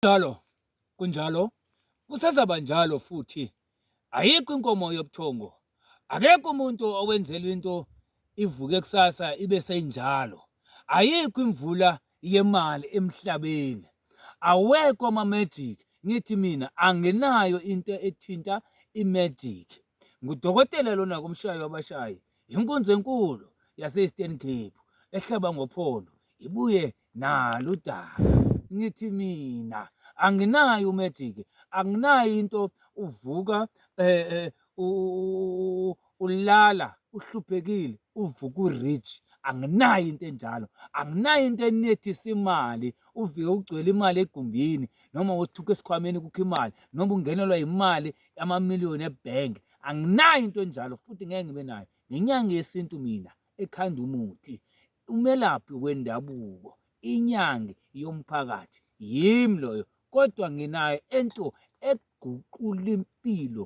Kunjalo, kunjalo, kusazaba njalo futhi. Ayikho inkomo yobuthongo. Akekho umuntu owenzelwa into ivuke kusasa ibe seyinjalo. Ayikho imvula yemali emhlabeni. Awekho ama-magic. Ngithi mina anginayo into ethinta i-magic. Ngudokotela lona kumshayi wabashayi. Inkunzi enkulu yase-Eastern Cape ehlaba ngophondo ibuye nalo udaba ngithi mina anginayo umagic anginayo into uvuka eh, eh ulala uhluphekile uvuka urich anginayo into enjalo anginayo into enethisa imali uvike ugcwele imali egumbini noma wothuka esikhwameni kukho imali noma ungenelwa imali amamiliyoni ebhenki anginayo into enjalo futhi ngeke ngibe nayo ngenyanga yesintu mina ekhanda umuthi umelaphi wendabuko inyangi yomphakathi yimi loyo kodwa nginayo ento eguqula impilo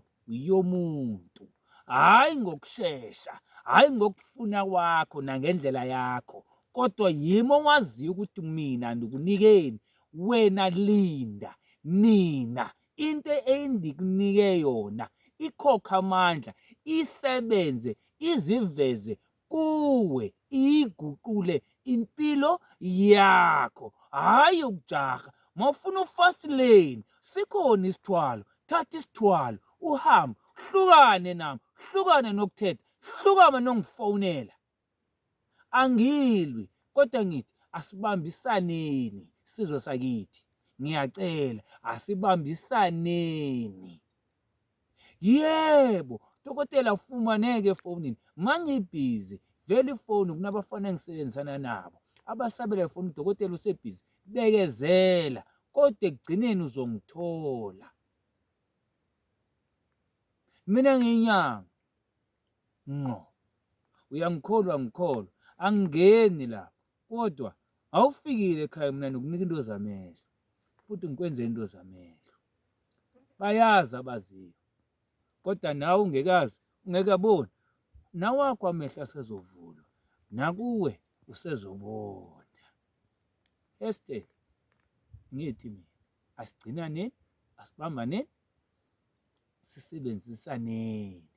yomuntu hhayi ngokushesha hhayi ngokufuna kwakho nangendlela yakho kodwa yimi owaziyo ukuthi mina ndikunikeni wena linda nina into endikunike yona ikhokha amandla isebenze iziveze kuwe iyiguqule impilo yakho hhayi ukujaha mawufuna ufast lane sikhona isithwalo thatha isithwalo uhambe hlukane nami hlukane nokuthetha hlukane nongifonela Angilwi kodwa ngithi asibambisaneni sizwe sakithi. Ngiyacela asibambisaneni. Yebo, dokotela ufumaneke efonini. Mangibhizi vele ifoni kunabafana engisebenzisana nabo abasabela ifoni udokotela usebhizi bekezela kodwa ekugcineni uzongithola mina ngiyinyanga ngqo. Uyangikholwa ngikholwa, angingeni lapho. Kodwa awufikile ekhaya mina ngikunika into zamehlo. Futhi ngikwenze into zamehlo. Bayazi abaziyo. Kodwa nawe ungekazi, ungeke aboni. Nawakho amehlo asezovulwa. Nakuwe usezobona. Esther ngithi mina asigcinane asibambane sisebenzisaneni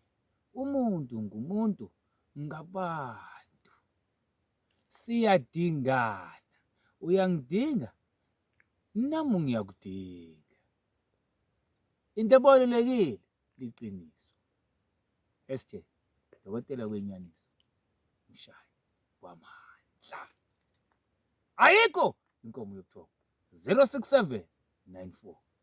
umuntu ngumuntu ngabantu siyadingana uyangidinga nami ngiyakudinga into ebalulekile liqiniso SJ dokotela kwenyaniso mshayi wamandla ayikho inkomo yobuthongo 067 94